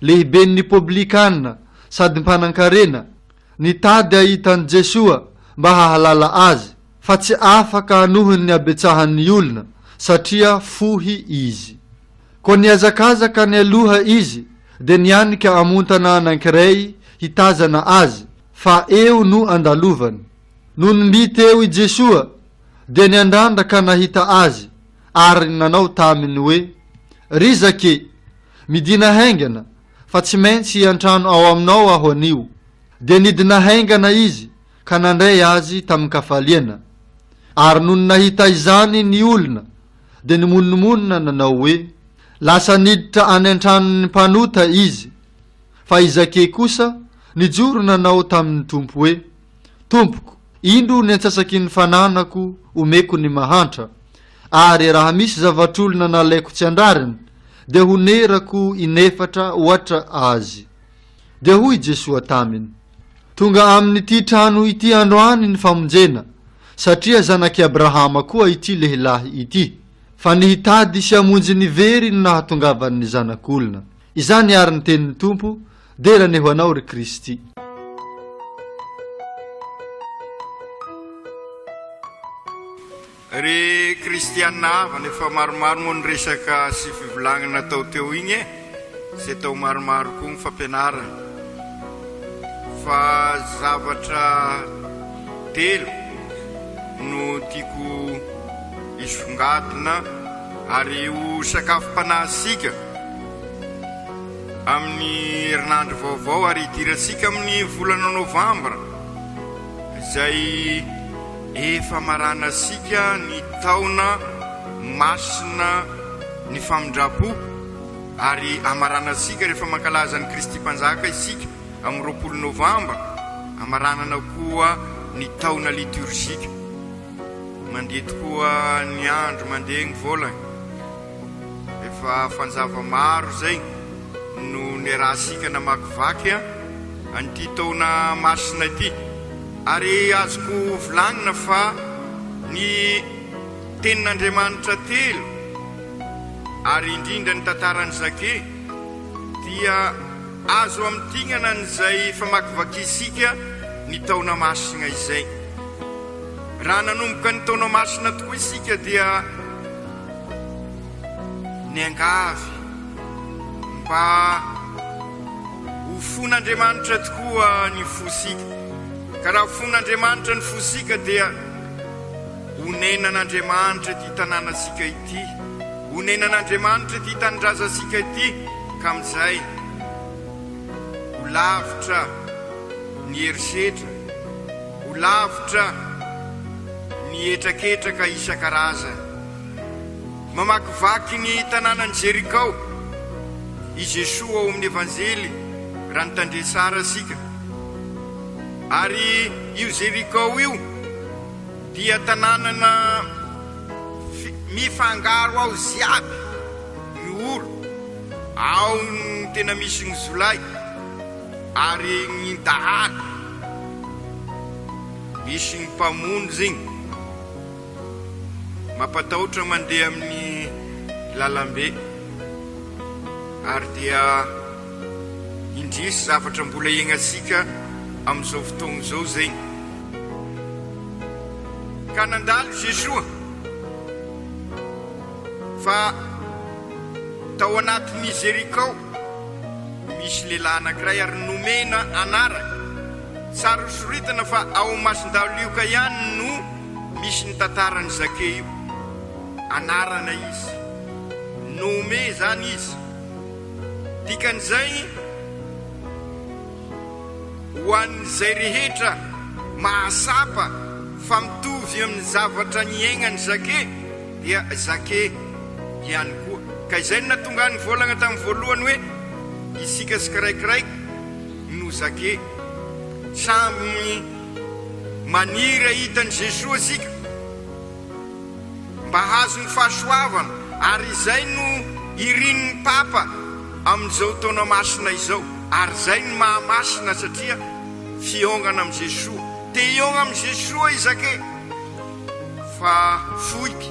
lehiben' ny Poblikana sady mpanan-karena, nitady hahita an'i Jesoa mba hahalala Azy, fa tsy afaka hanohiny ny habetsahan' ny olona, satria fohy izy. Koa nihazakazaka nialoha izy, dia nianika amontana anankiray hitazana Azy, fa eo no andalovany. Nony mby teo i Jesoa, dia niandrandra ka nahita Azy, ary nanao taminy hoe, Ry Zake, Midina haingana, fa tsy maintsy hiantrano ao aminao aho anio. Dia nidina haingana izy ka nandray azy tamin-kafaliana. Ary nony nahita izany ny olona, dia nimonomonona nanao hoe, Lasa niditra any an-tranon'ny mpanota izy. Fa i Zakey kosa nijoro nanao tamin'ny Tompo hoe, Tompoko, indro ny antsasaky ny fananako omeko ny mahantra, ary raha misy zavatr'olona nalaiko tsy andrariny, dia honerako inefatra ohatra azy. Dia hoy Jesoa taminy, Tonga amin'ity trano ity androany ny famonjena, satria zanak'i Abrahama koa ity lehilahy ity, fa ny hitady sy hamonjy ny very no nahatongavan'ny Zanak'olona. Izany àry ny tenin'ny Tompo, Dera anie ho anao ry Kristy. Ry kristiana havana efa maromaro moa ny resaka sy fivolagnana tao teo igny e zay tao maromaro koa ny fampianarana fa zavatra telo no tiako hisongadina ary ho sakafom-panahy sika Amin'ny herinandro vaovao ary hidirantsika amin'ny volana novambra izay efa maranasika ny taona masina ny famindram-po ary amaranantsika rehefa mankalaza an'i Kristy Mpanjaka isika amin'ny roapolo novambra, amaranana koa ny taona litiorjika. Mandeha tokoa ny andro, mandeha ny volana. Efa fanjava maro izay no niarahantsika namakivaky an'ity taona masina ity, ary azoko volagnina fa ny Tenin'Andriamanitra telo ary indrindra ny tantaran'i Zake dia azo amintignana an'izay famakivakiantsika ny taona masina izay. Raha nanomboka ny taona masina tokoa isika dia. Niangavy mba ho fon'Andriamanitra tokoa ny fosika, ka raha fon'Andriamanitra ny fosika dia onenan'Andriamanitra ity tanànantsika ity, onenan'Andriamanitra ity tanindrazantsika ity, ka amin'izay ho lavitra ny herisetra, ho lavitra. ny hetraketraka isan-karazany. Mamakivaky ny tanànan'i Jerikao i Jesoa ao amin'ny Evanjely raha nitandrema tsara isika. Ary io Jerikao io dia tanànana mifangaro ao ziaby ny olo, ao ny tena misy ny zolahy ary ny dahalo. Misy ny mpamonjy igny mampatahotra mandeha amin'ny lalambe ary dia indrisy zavatra mbola iaignantsika amin'izao fotoagna izao zegny. Ka nandalo Jesoa fa tao anatin'ny Jerikao misy lehilahy anankiray ary nomena anarana. Saro-soritana fa ao Masindalioka ihany no misy ny tantaran'i Zake io. Anarana izy. Nommé izany izy. Dikan'izay, ho an'izay rehetra mahatsapa fa mitovy amin'ny zavatra niaignan'i Zake dia Zake ihany koa. Ka izay no nahatonga ahy nivolagna tamin'ny voalohany hoe isika tsikairaikiraiky, no zake. Samy maniry hahita an'i Jesoa isika mba hahazo ny fahasoavana ary izay no irin'ny Papa amin'izao taona masina izao ary izay no maha masina satria fihaongana amin'i Jesoa. Te hihaogna amin'i Jesoa i Zake fa foiky.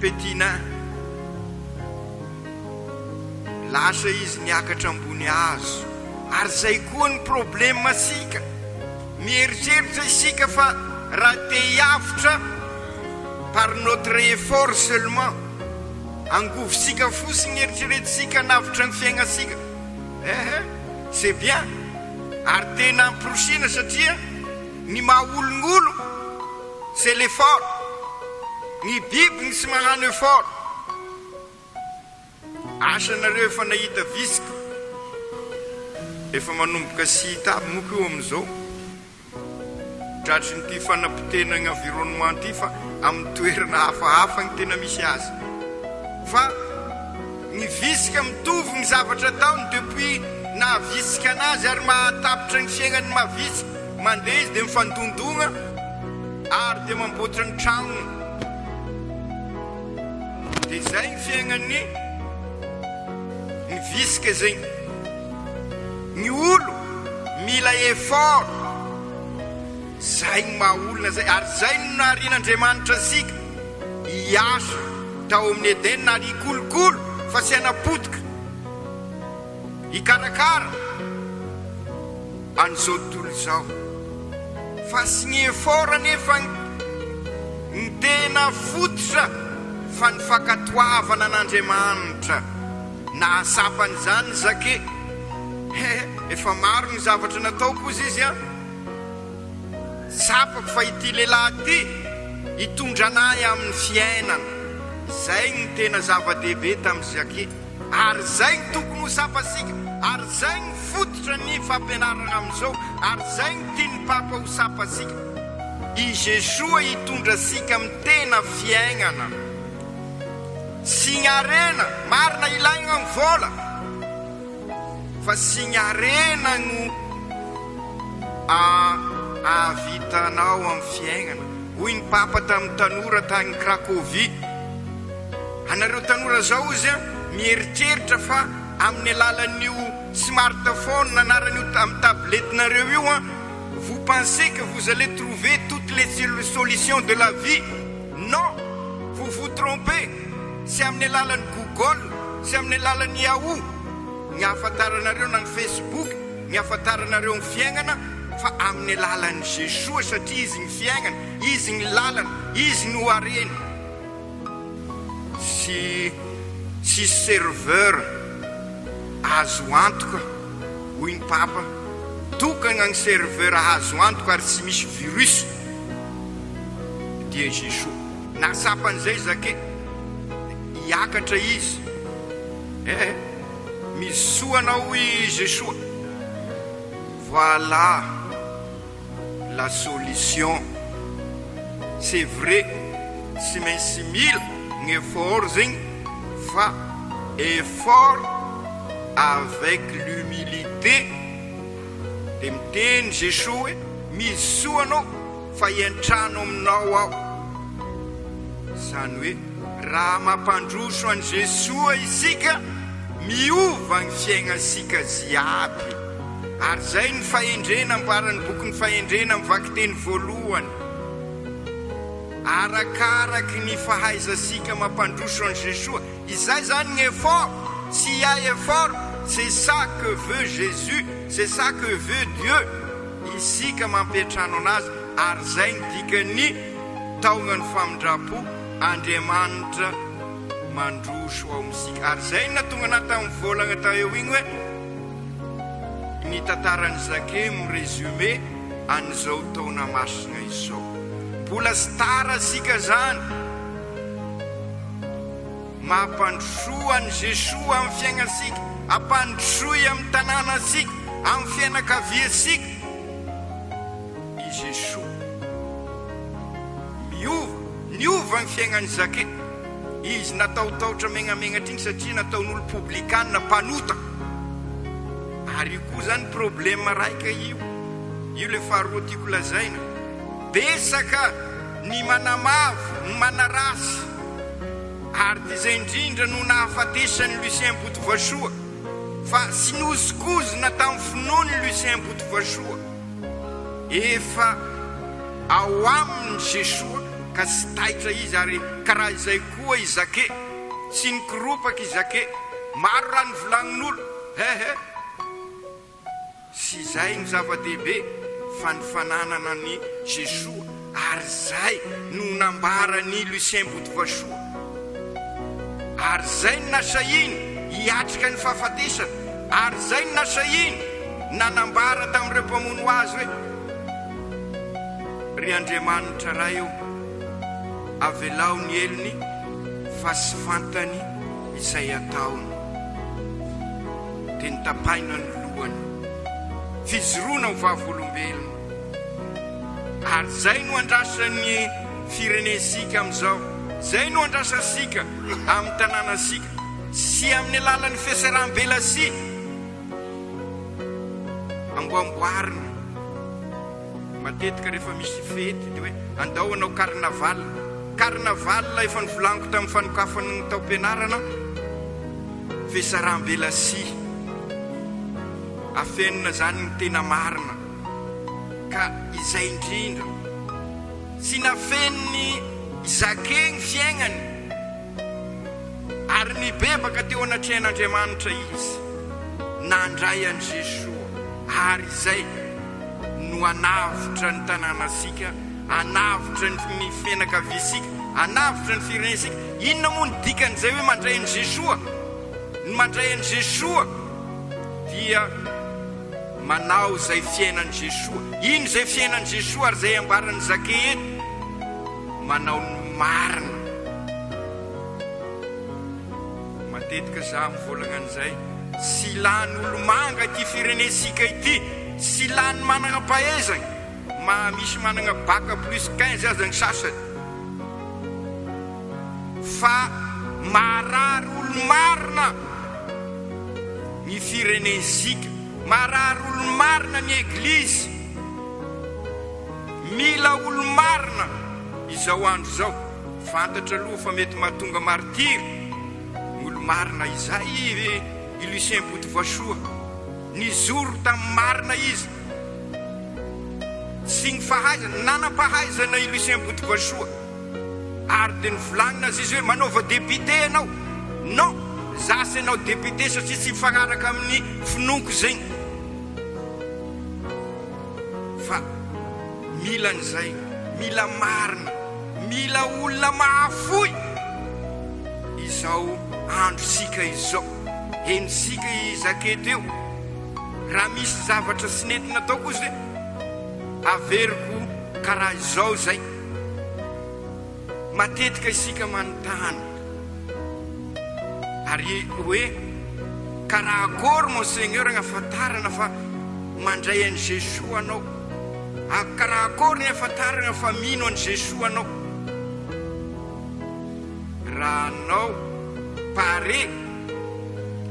Petina. Lasa izy niakatra ambony hazo. Ary zay koa ny probleme tsika. Mieritreritra isika fa raha te hiavotra par notre effort seulement, angovontsika fotsiny eritreretintsika hanavotra ny fiainantsika. Ehe, c'est bien. Ary tena amporisiana satria ny maha olon'olo C'est l'effort Ny biby no tsy magnano effort Asa nareo efa nahita vitsika Efa manomboka tsy hita aby moko io amizao Tratry ny ty fanapotehana ny environnement ty fa aminy toerana hafahafa ny tena misy azy Fa ny vitsika mitovy ny zavatra ataony depuis naha vitsika anazy ary mahatapitra ny fiaignany maha vitsika. Mandeha izy dia mifandondogna ary dia mamboatra ny tragnony. Dia izay ny fiaignan'ny ny visika zegny. Ny olo mila effort, zay ny maha olona zay ary zay no naharian'Andriamanitra antsika hiasa tao amin'ny Edena ary hikolokolo fa tsy hanapotika. Hikarakara an'izao tontolo izao. Fa tsy ny effort anefa no tena fototra fa ny fankatoavana an'Andriamanitra. Nahatsapa an'izany Zake, He, efa maro ny zavatra nataoko hozy izy an! Tsapako fa ity lehilahy ity hitondra anay amin'ny fiainana. Izay no tena zava-dehibe tamin'i Zake. Ary zay ny tokony ho sapasika, ary zay ny fototra ny fampianarana amizao, ary zay ny tian'ny Papa ho sapasika. I Jesoa hitondra sika amin'ny tena fiaignana. Signy harena, marina ilaigna ny vola, fa signy harena no ahavitanao amin'ny fiaignana. Hoy ny Papa tamin'ny tanora tagny Cracovie. Anareo tanora zao ozy a mieritreritra fa amin'ny alalan'io smartphone anaran'io amin'ny tablette nareo io a vous pensez que vous allez trouver toutes les solutions de la vie non vous vous trompez tsy amin'ny alalan'ny google tsy amin'ny alalan'ny yahoo ny hahafantaranareo na ny facebook ny hahafantaranareo ny fiaignana fa amin'ny alalan'i Jesoa satria izy ny fiaignana izy ny lalana izy no harena sy tsisy serveur azo antoka hoy ny Papa, tokana ny serveur azo antoka ary tsy misy virus dia Jesosy. Nahatsapa an'izay Zake, hiakatra izy, eh eh, mizoso anao hoy Jesosy, voilà. la solution c'est vrai tsy maintsy mila ny effort zegny fa effort avec l'humilité de miteny Jesoa hoe misy soa anao fa hiantrano aminao aho zany hoe raha mampandroso an'i Jesoa isika miova ny fiaignansika jiaby. Ary izay no fahendrena ambaran'ny bokin'ny Fahendrena amin'ny vakiteny voalohany, arakaraky ny fahaizantsika mampandroso an'i Jesoa. Izay izany ny effort, tsy hiahy effort, c'est ça que veut Jésus, c'est ça que veut Dieu, isika mampiantrano anazy, ary izay no dikan'ny taognan'ny famindram-po, Andriamanitra mandroso ao amintsika. Ary izay no nahatonga anah tamin'ny volagna tao eo igny hoe, Ny tantaran'i Zake no résumé an'izao taona masina izao. Mbola tsy tara isika izany. Mampandrosoa an'i Jesoa amin'ny fiainantsika, ampandrosoy amin'ny tanànantsika, amin'ny fianakaviantsika i Jesoa. Miova, niova ny fiainan'i Zake. Izy natahotahotra megnamenatra igny satria nataon'olo poblikanina mpanota. Ary io koa zany problema raika io. Io le faharoa tiako lazaina. Betsaka ny manamavo, ny manaratsy. Ary ty zay indrindra no nahafatesan'i Lucien Botovasoa. Fa tsy nozokozona tamin'ny finoany Lucien Botovasoa. Efa ao aminy Jesoa ka tsy taitra izy ary ka raha izay koa i Zake, tsy nikoropaka i Zake, maro raha nivolanin'olo, he he. Tsy izay no zava-dehibe fa ny fananana an'i Jesoa. Ary izay no nambaran'i Lucien Botovasoa. Ary izay no nasahiany hiatrika ny fahafatesana. Ary izay no nasahiany nanambara tamin'ireo mpamono azy hoe, Ry Andriamanitra Ray ô, avelao ny helony fa tsy fantany izay ataony. Dia notapahina ny lohany. Fijoroana ho vavolombelona. Ary zay no andrasan'ny firenentsika amin'izao, zay no andrasantsika amin'ny tanànantsika sy amin'ny alalan'ny fiasaram-belasia amboamboarina matetika rehefa misy fety, dia hoe andao hanao carnaval, carnaval efa novolaniko tamin'ny fanokafan'ny taom-pianarana, fiasaram-belasia, afenina zany ny tena marina. Ka izay indrindra. Tsy nafenin'i Zake ny fiaignany, ary nibebaka teo anatrehan'Andriamanitra izy, nandray an'i Jesoa, ary izay no anavotra ny tanànasika, anavotra ny fianakaviasika, anavotra ny firenentsika. Inona moa ny dikan'izay hoe mandray an'i Jesoa? Ny mandray an'i Jesoa dia. Manao izay fiainan'i Jesoa. Ino izay fiainan'i Jesoa ary izay ambaran'i Zake eto? Manao ny marina. Matetika za mivolagna an'izay. Tsy lany olomanga ity firenentsika ity. Tsy lany managna-pahaizagna. Maha misy managna bac plus quinze aza ny sasany fa maharary olo marina ny firenen'zika, maharary olo marina ny eglizy, mila olo marina izao andro izao, fantatra aloha fa mety mahatonga martyrs ny olo marina, izay i Lucien Botovasoa, nizoro tamin'ny marina izy, sy ny fahaizana, nanam-pahaizana i Lucien Botovoasoa ary dia novolanina aza izy hoe manaova député ianao, non, za tsy hanao député satria tsy mifanaraka amin'ny finoako zegny fa mila an'izay, mila marina, mila olona mahafoy izao androntsika izao, henontsika i Zake teo. Raha misy zavatra tsy nety natao kosa dia averiko karaha izao izay, matetika isika manontany ary hoe, karaha akory mon seigneur ny afantarana fa mandray an'i Jesoa anao? Ary karaha akory ny afantarana fa mino an'i Jesoa anao? Raha anao pare.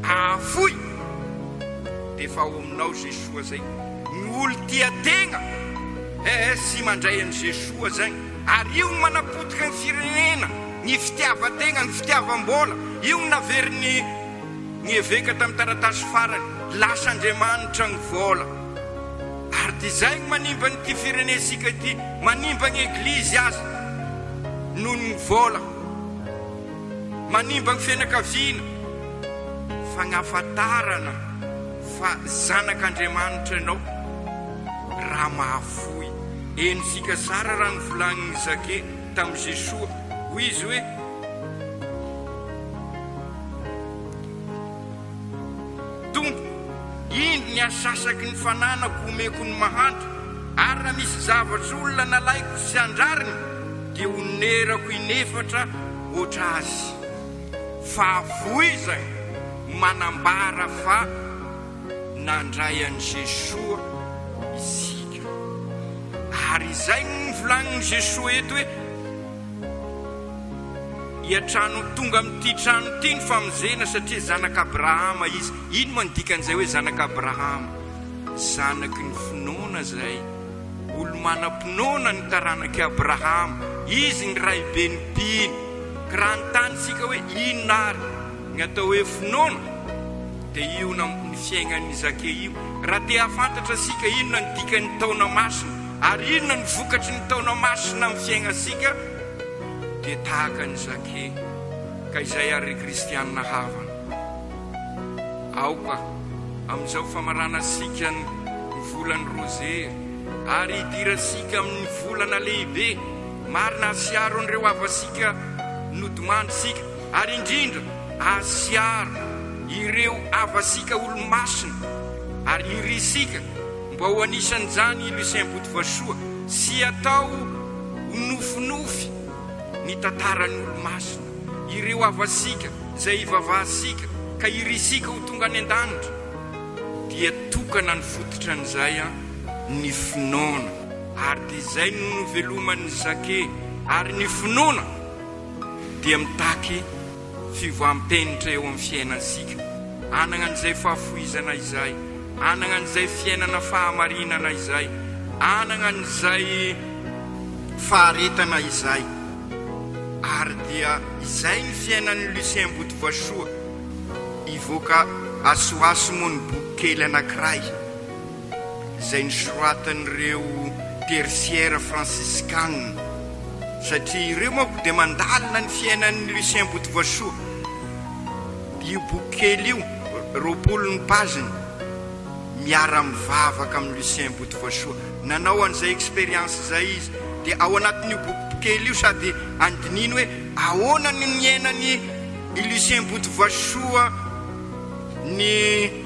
Ahafoy! D'efa ao aminao Jesoa zay Ny olo tia tegna ES mandray an'i Jesoa zagny Ary io gny manapotika gny firenena Ny fitiavan-tegna, ny fitiavam-bola Io gny naverin'i Ny eveka tam taratasy farany Lasa Andriamanitra gny vola Ary ty zay gny manimba an'ity firenesika ity Manimba gny eglizy aza Noho gny vola. Manimba ny fianakaviana, fagnafantarana fa zanak'Andriamanitra ianao raha mahafoy. Eny fika tsara raha novolagnin'i Zake tamin'i Jesoa, hoy izy hoe. Tompo, indro ny asasaky ny fananako homeko ny mahantra, ary raha misy zavatra olona nalaiko sy andrariny dia honerako inefatra hoatra azy. Fa voiza no manambara fa nandray an'i Jesoa isika? Ary izay no novolagnin'i Jesoa eto hoe. Hiantrano tonga amin'ity trano ity ny famonjena satria zanak'Abrahama izy. Ino moa ny dikan'izay hoe zanak'Abrahama? Zanaky ny finoana izay. Olo-manam-pinoana ny taranak'i Abrahama. Izy ny raiben'ny mpino. Ka raha hanontany isika hoe inona ary ny atao hoe finoana? Dia io ny fiainan'i Zakea io. Raha te hahafantatra isika inona ny dikan'ny taona masina, Ary inona no vokatry ny taona masina amin'ny fiainantsika? Dia tahaka an'i Zake, ka izay àry ry kristiana havana. Aoka amin'izao famaranantsika ny volan'ny Rozery, ary hidirantsika amin'ny volana lehibe marina hasiaro an'ireo havantsika nodimandrintsika, ary indrindra hasiaro ireo havantsika olo-masina, ary hirintsika. Mba ho anisan'izany i Lucien Botovasoa sy atao ho nofinofy ny tantaran'olo-masina, ireo havasika izay ivavahantsika ka irintsika ho tonga any an-danitra dia tokana ny fototran'izay ny finoana. Ary dia izay no noveloman'i Jacques ary ny finoana dia mitaky. Fivoahampenitra eo amin'ny fiainantsika. Hanagna an'izay fahafoizana izay. Hanagna an'izay fiainana fahamarinana izay. Hanagna an'izay faharetana izay. Ary dia izay ny fiainan'i Lucien Botovasoa. Hivoaka asoaso moa ny bokikely anankiray. izay nosoratan'ireo tersiera fransiskana, satria ireo manko dia mandalina ny fiainan'i Lucien Botovoasoa. Io boky kely io, roapolo ny page-ny, miara-mivavaka amin'i Lucien Botovoasoa. Nanao an'izay expérience izay izy. Dia ao anatin'io boky kely io sady andininy hoe ahoana no niainan'i Lucien Botovoasoa ny.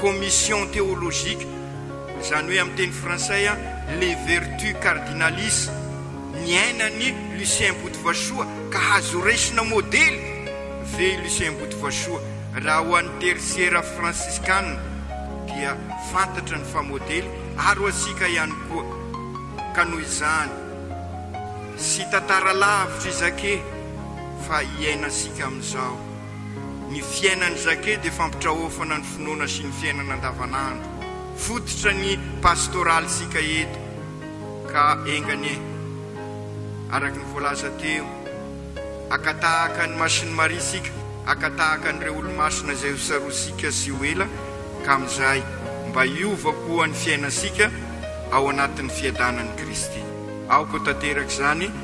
commission théologique, izany hoe amin'ny teny frantsay, les vertus cardinales, niainan'i Lucien Botovasoa ka azo horaisina modely ve i Lucien Botovasoa? Raha ho an'ny Tertiera fransiskana dia fantatra ny fa modely ary ho antsika ihany koa ka noho izany tsy tantara lavitra izake fa iainantsika amin'izao. Ny fiainan'i Jacques dia fampitraofana ny finoana sy ny fiainana andavanandro. Fototra ny pastoralintsika eto ka enga anie, araka ny voalaza teo, haka tahaka an'i Masin'i Maria isika, haka tahaka an'ireo Olomasina izay ho sarosintsika tsy ho ela ka amin'izay mba hiova koa ny fiainantsika ao anatin'ny fiadanan'i Kristy. Aoka ho tanteraka izany.